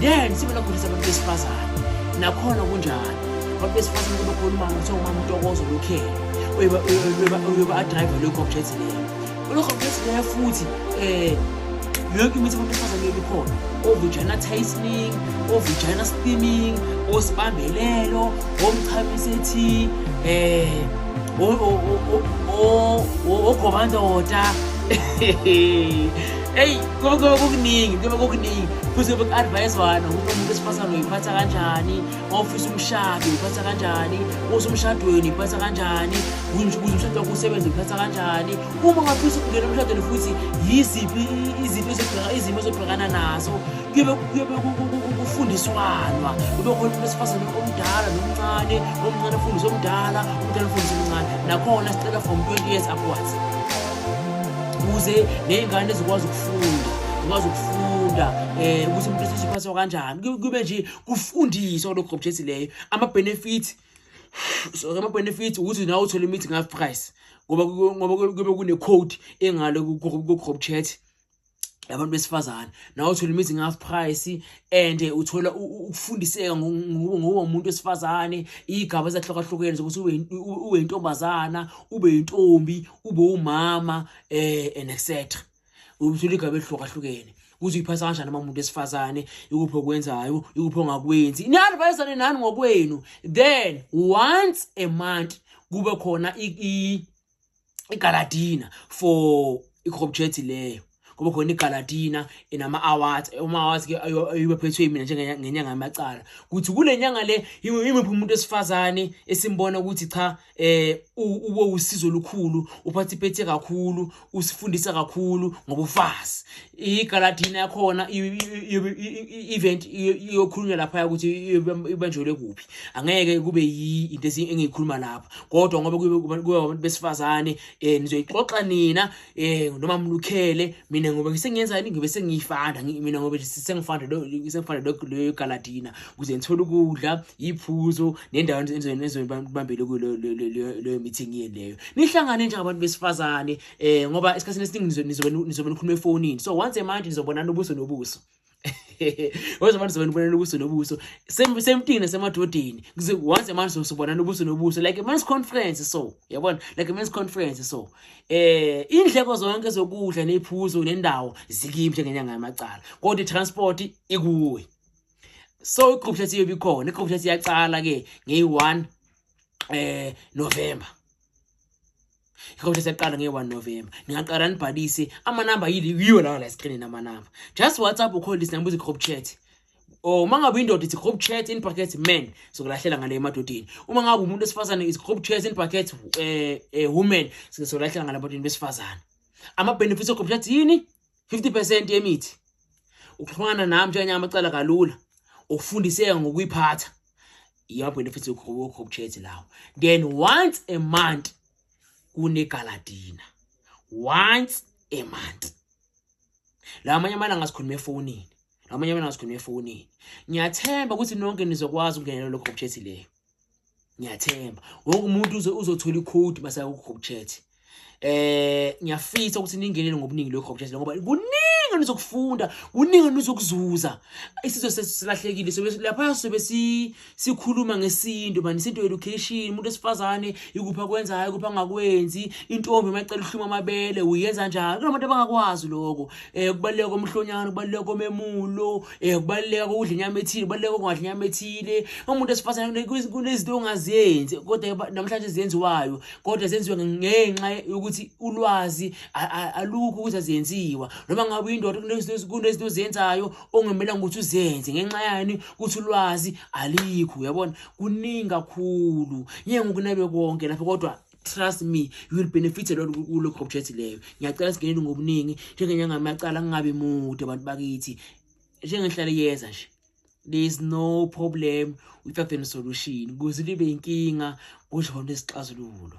then sibe nokufundisa abantu besifazane nakhona kunjalo abantu besifazane kube khona umama kuthiwa umama utokozo lokhele uyoba adrive lokho object leyo lokho object leyo futhi um yonke imithi abantu besifazane leyo bikhona ovijana tasting ovijana steaming osibambelelo omchamiseti um ogobandoda eyi konke okukuningi kuyobe kukuningi futhi yobe ku-advayizwana ukuthi umuntu wesifazane uyiphatha kanjani ofisa umshado uyiphatha kanjani usemshadweni uyiphatha kanjani kuze umshado wakho usebenze uyiphatha kanjani uma ngafisa ukungena emshadweni futhi yiziphi izinto izimo ezobhekana nazo kuyobe kufundiswanwa kube khona umuntu wesifazane omdala nomncane omncane afundise omdala omdala afundise omncane nakhona sicela from 20 years upwards ukuze ney'ngane zikwazi ukufunda zikwazi ukufunda um ukuthi umuntu esesiphathwa kanjani kube nje kufundiswa kulokho gobjesi leyo ama-benefits so ama-benefits ukuthi nawe uthole imithi ngafi price ngoba ngoba kube kune-code engalo ku-crop chat labantu besifazane nawe uthola imithi nge-half price and uthola ukufundiseka ngoba umuntu wesifazane iy'gaba ezahlukahlukene zokuthi ube yintombazana ube yintombi ube umama um and etc uthola igaba elihlukahlukene kuze uyiphasa kanjani uma umuntu wesifazane ikuphi okwenzayo ikuphi ongakwenzi ni-advisane nani ngokwenu then once a month kube khona igaladina for ikhobjethi leyo ngoba khona igaladina enama awards uma awards ke ayibe phethwe mina njenge ngenyanga yamacala ukuthi kulenyanga le imiphi umuntu esifazane esimbona ukuthi cha eh ube usizo lukhulu uphathiphethe kakhulu usifundisa kakhulu ngobufazi igaladini yakhona i-event iyokhulunywa laphaya ukuthi ibanjelwe kuphi angeke kube into engiyikhuluma lapha kodwa ngoba kube abantu besifazane um nizoyixoxa nina um noma mlukhele mina ngoba sengiyenzani ngibe sengiyifanda mina ngoba sengifanda leyo galadina kuze ngithole ukudla iyiphuzo nendawo enizobambele kuyo leyo meeting yeni leyo nihlangane njengabantu besifazane eh ngoba isikhathini esiningi nizobe nizobe nikhuluma efonini so once a month nizobonana ubuso nobuso once a month nizobona ubonana ubuso nobuso same same thing nasemadodeni once a month sizobonana ubuso nobuso like a men's conference so yabona like a men's conference so eh indleko zonke zokudla nephuzo nendawo zikimi njengenyanga yamacala kodwa transport ikuwe so igroup chat iyobe ikhona igroup chat iyaqala ke ngeyi-1 eh November yikho nje siyaqala nge-1 november ningaqala nibhalise amanamba yiyo lawa la esikrinini amanamba just whatsapp ukhole isinamba uthi group chat or uma ngabe indoda ithi group chat in brackets men sokulahlela ngale emadodeni uma ngabe umuntu esifazane is group chat in brackets um eh, eh, women sokulahlela ngale emadodeni besifazane ama-benefits of group chat yini 50 percent yemithi ukuxhumana nami njenganye amacala kalula ukufundiseka ngokuyiphatha iyama benefits yokho chat lawo then once a month kune galadina once a month la amanye amalanga sikhuluma efonini la amanye amalanga sikhuluma efonini ngiyathemba ukuthi nonke nizokwazi ukungenela lokho chat leyo ngiyathemba wonke umuntu uze uzothola icode masaya ku group chat eh ngiyafisa ukuthi ningenele ngobuningi lokho group chat ngoba kuningi nizokufunda kuningi nizokuzuza isizwe sesilahlekile sobe lapha sobe sikhuluma ngesintu manje isintu education umuntu esifazane ikupha kwenzayo ikupha ngakwenzi intombi emacela uhluma amabele uyenza njalo kunabantu abangakwazi lokho eh kubaleka komhlonyana kubaleka komemulo um kubaluleka kokudla inyama ethile kubaluleka kokungadla inyama ethile umuntu esifazane kunezinto ongazenzi kodwa namhlanje zenziwayo kodwa zenziwe ngenxa yokuthi ulwazi alukho ukuthi azenziwa noma ngabe uyindoda kunezinto ozenzayo ongemelanga ukuthi uzenze ngenxa yani ukuthi ulwazi alikho uyabona kuningi kakhulu ngeke ngokunabe konke lapho kodwa trust me you will benefit a lot kulo project leyo ngiyacela singenele ngobuningi njengenyanga amacala kungabi mude abantu bakithi njengenhlale yeza nje there is no problem without any solution kuze libe inkinga kusho khona isixazululo